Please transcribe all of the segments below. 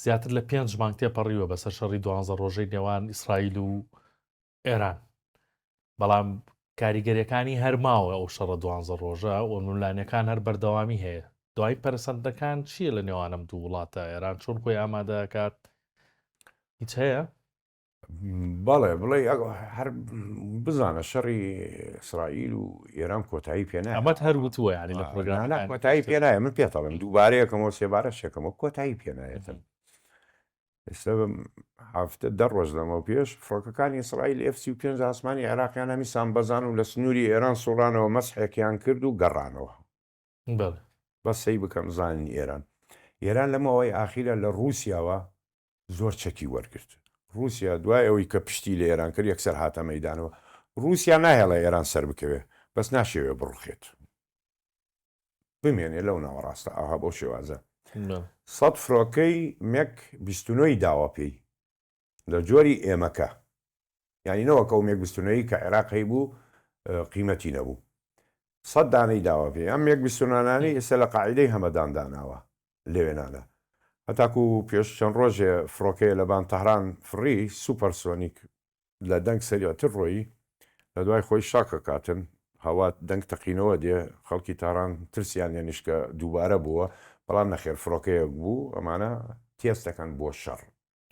زیاتر لە پێنج مانگ تێپەڕیوە بەسەر شەڕی دوانزە ڕۆژەی نێوان ئیسرائیل و ئێران بەڵام کاریگەریەکانی هەرماوە ئەو شەڕە دوانزە ڕۆژە و نولانەکان هەر بەردەوامی هەیە دوای پەرسەندەکان چییە لە نێوانم دوو وڵاتە ئێران چۆن خۆی ئامادەکات هیچ هەیە بەڵێ بڵێ هەر بزانە شەڕی ئیسرائیل و ئێران کۆتایی پێ نایە. ئەمەت هەر وتووە یانی لە پرۆگرامەکان. نا نا کۆتایی پێ نایە، من پێت دەڵێم دووبارەیەکەمەوە سێبارەشێکەمەوە کۆتایی پێ نایەتن. ئێستا هەفتە دە ڕۆژ لەمەو پێش فڕۆکەکانی ئیسرائیل F35 ئاسمانی عێراقیان هەمی سامبەزان و لە سنووری ئێران سوڕانەوە مەسحێکیان کرد و گەڕانەوە بەڵێ. بەس سەی بکەم زانن ئێران ئێران لە ماوەی ئاخیرا لە ڕووسیاوە زۆر چەکی وەرگرت ڕووسیا دوای ئەوەی کە پشتی لە ئێران کرد یەکسەر هاتە مەیدانەوە ڕووسیا ناهێڵێ ئێران سەر بکەوێ بەس ناشێوێ بڕوخێت بمێنێ لەو ناوەڕاستە ئاها بەو شێوازە سەد فرۆکەی مێک بیست و نۆی داوە پێی لە جۆری ئێمەکە یانی نەوەک ئەو مێکبستونەی کە عێراق هەیبوو قیمەتی نەبوو سەد دانەی داوە پێ ئەم مێکبستونانانی ئێستا لە قاعیدەی هەمەدان داناوە لەوێ نانا هەتاکو پێش چەند ڕۆژێ فڕۆکەیە لە بان تەهران فڕی سوپەر سۆنیک لە دەنگ سەریعتر ڕۆیی لە دوای خۆی شاکە کاتن هەوا دەنگ تەقینەوە دێ خەڵکی تاران ترسیان لێ نیشکە دووبارە بووە بەڵام نەخێر فڕۆکەیەک بوو ئەمانە تێستەکەن بۆ شەڕ.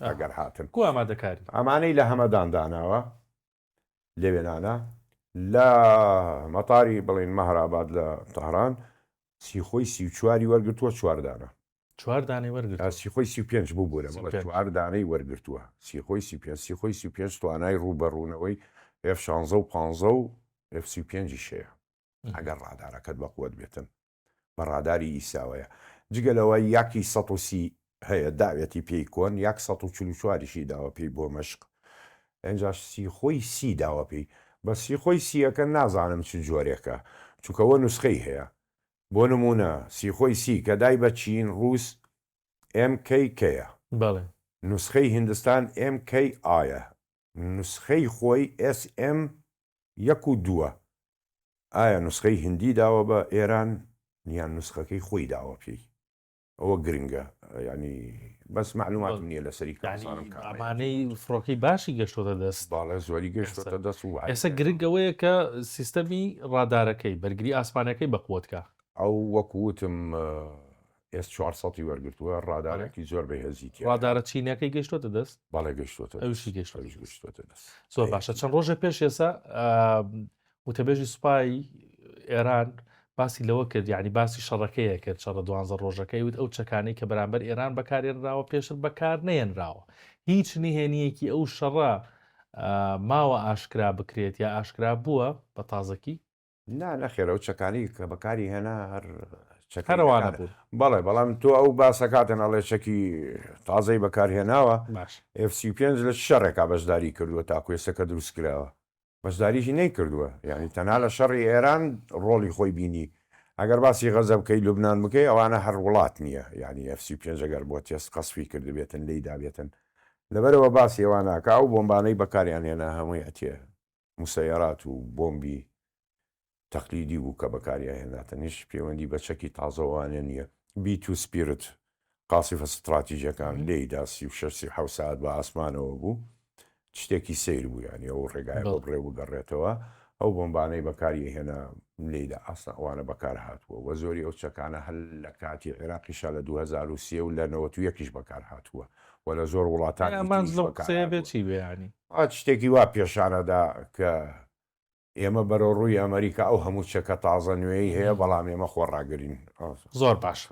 ئەگەر هاتن. کو ئامادەکاری؟ ئەمانەی لە هەمەدان داناوە لەوێنانە لە مەتاری بڵێن مەهراباد لە تەهران سیخۆی سی و چواری وەرگرتووە چوار دانە. چوار دانەی وەرگرتووە. سیخۆی سی و پێنج ببورە بەڵێ چوار دانەی وەرگرتووە سیخۆی سی و پێنج سیخۆی سی و پێنج توانای ڕووبەڕوونەوەی ئێف شانزە و پانزە و ئێف سی و پێنجیش هەیە ئەگەر ڕادارەکەت بەقوەت بێتن. بە ڕاداری ئیساوەیە جگە لەوە یاکی سەد و سی هەیە داوێتی پێی کۆن یاک سەد و چل و چواریشی داوە پێی بۆ مەشق ئەنجاش سیخۆی سی داوە پێی بەس سیخۆی سیەکە نازانم چ جۆرێکە چونکە وە نوسخەی هەیە بۆ نمونە سیخۆی سی کە دای بە چین ڕووس ئێم کەی کەیە بەڵێ نوسخەی هیندستان ئێم کەی ئایە نوسخەی خۆی ئێس ئێم یەک و دووە ئایا نوسخەی هندی داوە بە ئێران یان نوسخەکەی خۆی داوە پێی ئەوە گرنگە یانی بەس معلوماتم نییە لەسەری کارزانم کار ئەمانەی فڕۆکەی باشی گەشتۆتە دەست باڵێ زۆری گەشتۆتە دەست و ئێستا گرنگەوەیە کە سیستەمی ڕادارەکەی بەرگری ئاسمانەکەی بەقوتکە ئەو وەکوتم ئێس چوار سەد ی وەرگرتووە، ڕادارێکی زۆر بەهێزی تیایە. ڕادارە چینییەکەی گەیشتووەتە دەست؟ بەڵێ گەیشتووەتە دەست. ئەویشی گەیشتووە. ئەویش گەیشتووەتە دەست. زۆر باشە چەند ڕۆژێ پێش ئێستا وتەبێژی سوپای ئێران باسی لەوە کرد یعنی باسی شەڕەکەیە کرد شەڕە دوانزە ڕۆژەکەی وت ئەو چەکانەی کە بەرامبەر ئێران بەکارێنراوە پێشتر بەکار نەیەنراوە هیچ نهێنیەکی ئەو شەڕە ماوە ئاشکرا بکرێت یا ئاشکرا بووە بە تازەکی نا نەخێر ئەو چەکانی کە بەکاری هێنا هەر چەکی هەر ئەوانە بەکار بوون بەڵێ بەڵام تۆ ئەو باسەکاتن ئەڵێ چەکی تازەی بەکارهێناوە باش ئێف سی و پێنج لە چ شەڕێکا بەشداری کردووە تاکو ئێستا کە دروست کراوە بەشداریی نەیکردووە یانی تەنها لە شەڕی ئێران ڕۆڵی خۆی بینی ئەگەر باسی غەزە بکەی لوبنان بکەی ئەوانە هەر وڵات نییە یانی ئێف سی و پێنج ئەگەر بۆ تێست قەسفی کردبێتن لێی دابێتن لەبەرئەوە باسی ئەوان ناکا ئەو بۆمبانەی بەکاریان هێنا هەمووی ئەتیە موسەیەرات و بۆمبی تەقلیدی بوو کە بەکاریاهێنراتن، هیچ پەیوەندی بە چەکی تازەوانە نییە. بی توو سپیرت، قاسفە ستڕاتیجەکان، لێیدا سی و شەش سی و حەوت سەعات بە ئاسمانەوە بوو، شتێکی سەیر بوو، یانی ئەو ڕێگایە بۆ بڕێ بگەڕێتەوە، ئەو بۆمبانەی بەکاریهێنا لێیدا ئاسنا ئەوانە بەکارهاتووە و زۆری ئەو چەکانە هەر لە کاتی عێراقیشا لە دوو هەزار و سێ و لە نەوەت و یەک یش بەکارهاتووە. و لە زۆر وڵاتانی تریش بەکارهاتووە. ئەمە شتێکی وا پێشانەدا کە ئێمە بەرەوڕووی ئەمەریکا ئەو هەموو چەکە تازە نوێی هەیە، بەڵام ئێمە خۆڕاگرین. زۆر باشە.